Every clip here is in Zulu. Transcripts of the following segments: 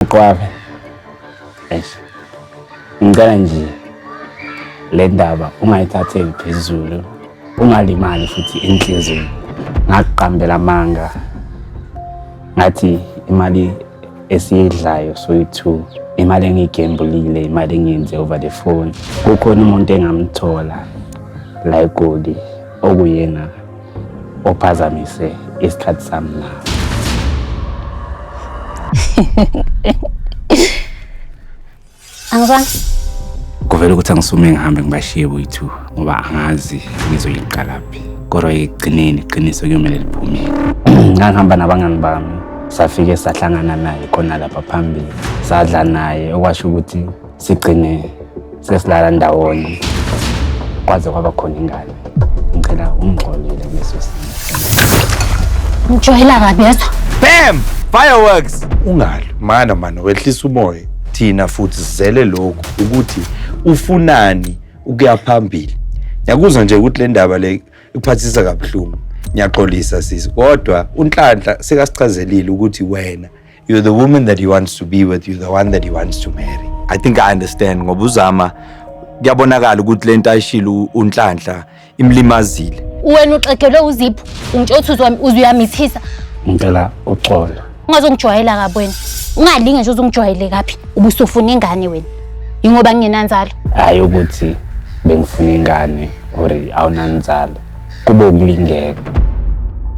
Qwabe. Eish. Ngicela nje le ndaba ungayithatheli phezulu. Ungalimali futhi inhliziyo. Ngakuqambela amanga. Ngathi imali esiyidlayo soyi-two imali engiyigembulile imali engiyenze over the phone kukhona umuntu engamthola la egoli okuyena ophazamise isikhathi sami na angizwani kuvele ukuthi angisume ngihambe ngibashiye boyithu ngoba angazi ngizoyiqalaphi kodwa ekugcineni iqiniso kuyomele liphumele ngangihamba nabangani bami safike sahlangana naye khona lapha phambili sadla naye okwasho ukuthi sigcine sesilala ndawonye kwaze kwaba khona ingane ngicela ungixolele kuleso simo Ngijwayela kabi yezwa. Bam! Fireworks! Ungalwi mana mana wehlisa umoya. Thina futhi sizele lokhu ukuthi ufunani ukuya phambili. Ngiyakuzwa nje ukuthi le ndaba le ikuphathisa kabuhlungu. Ngiyaxolisa sisi kodwa unhlanhla sekasichazelile ukuthi wena You're the woman that he wants to be with, you're the one that he wants to marry. I think I understand ngoba uzama kuyabonakala ukuthi lento ayishilo unhlanhla imlimazile. Wena uxegelwe uzipho, ungitshothi uzwa uzuyamithisa. Ngicela uxolo. Ungazongijwayela kabi wena. Ungalinge nje uzongijwayele kabi. Ubusufuna ingane wena. Yingoba ngingenanzalo. Hayi ukuthi bengifuna ingane or awunanzalo. kube ukulingeka.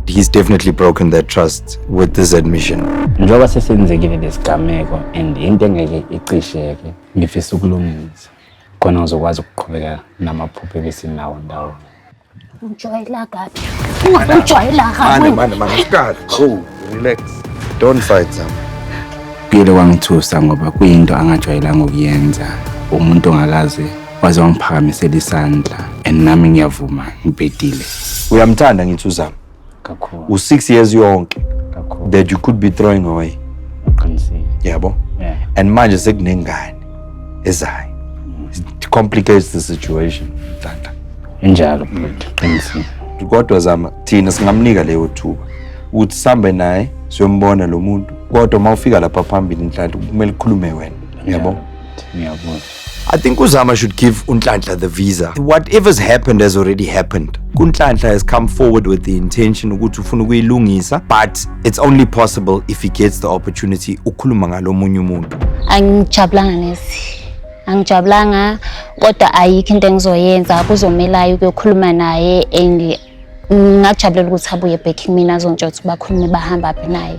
He's definitely broken that trust with this admission. Njengoba sesenzekile lesigameko and into engeke icisheke ngifisa ukulungisa khona uzokwazi ukuqhubeka namaphupho ebesinawo ndawo. Ujwayela kabi. Ujwayela kabi. Mane mane mane isikhathi. Cool, relax. Don't fight them. Kuyele kwangithusa ngoba kuyinto angajwayelanga ukuyenza umuntu ongakaze waze wangiphakamisela isandla and nami ngiyavuma ngibhedile uyamthanda ngithi uzama kakhulu u-six years yonke kakhulu that you could be throwing away uqinisile yabo yeah. and manje sekunengane ezayo it complicates the situation tata injalo mfethu qinisile kodwa zama thina singamnika leyo thuba ukuthi sambe naye siyombona lo muntu kodwa uma ufika lapha phambili inhlanhla kumele ukhulume wena uyabo ngiyabona I think Uzama should give Unhlanhla the visa. Whatever's happened has already happened. Unhlanhla has come forward with the intention ukuthi ufuna ukuyilungisa but it's only possible if he gets the opportunity ukhuluma ngalomunye umuntu. Angijabulanga nesi. Angijabulanga kodwa ayikho into engizoyenza kuzomelayo ukuyokhuluma naye and ngakujabulela ukuthi abuye back kimina azontsha ukuthi bakhulume bahamba phi naye.